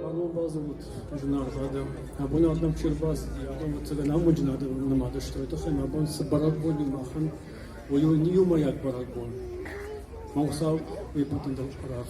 Абон базылд зынаргъ адӕм. Абон адӕм чи рбацыди, абон ӕцӕгӕн амонджын адӕм нымад сты. Тыххӕй абон цы бӕрӕгбон у махӕн, уый у иумӕйаг бӕрӕгбон. Мӕ Хуыцау уый бӕттын дӕр арӕх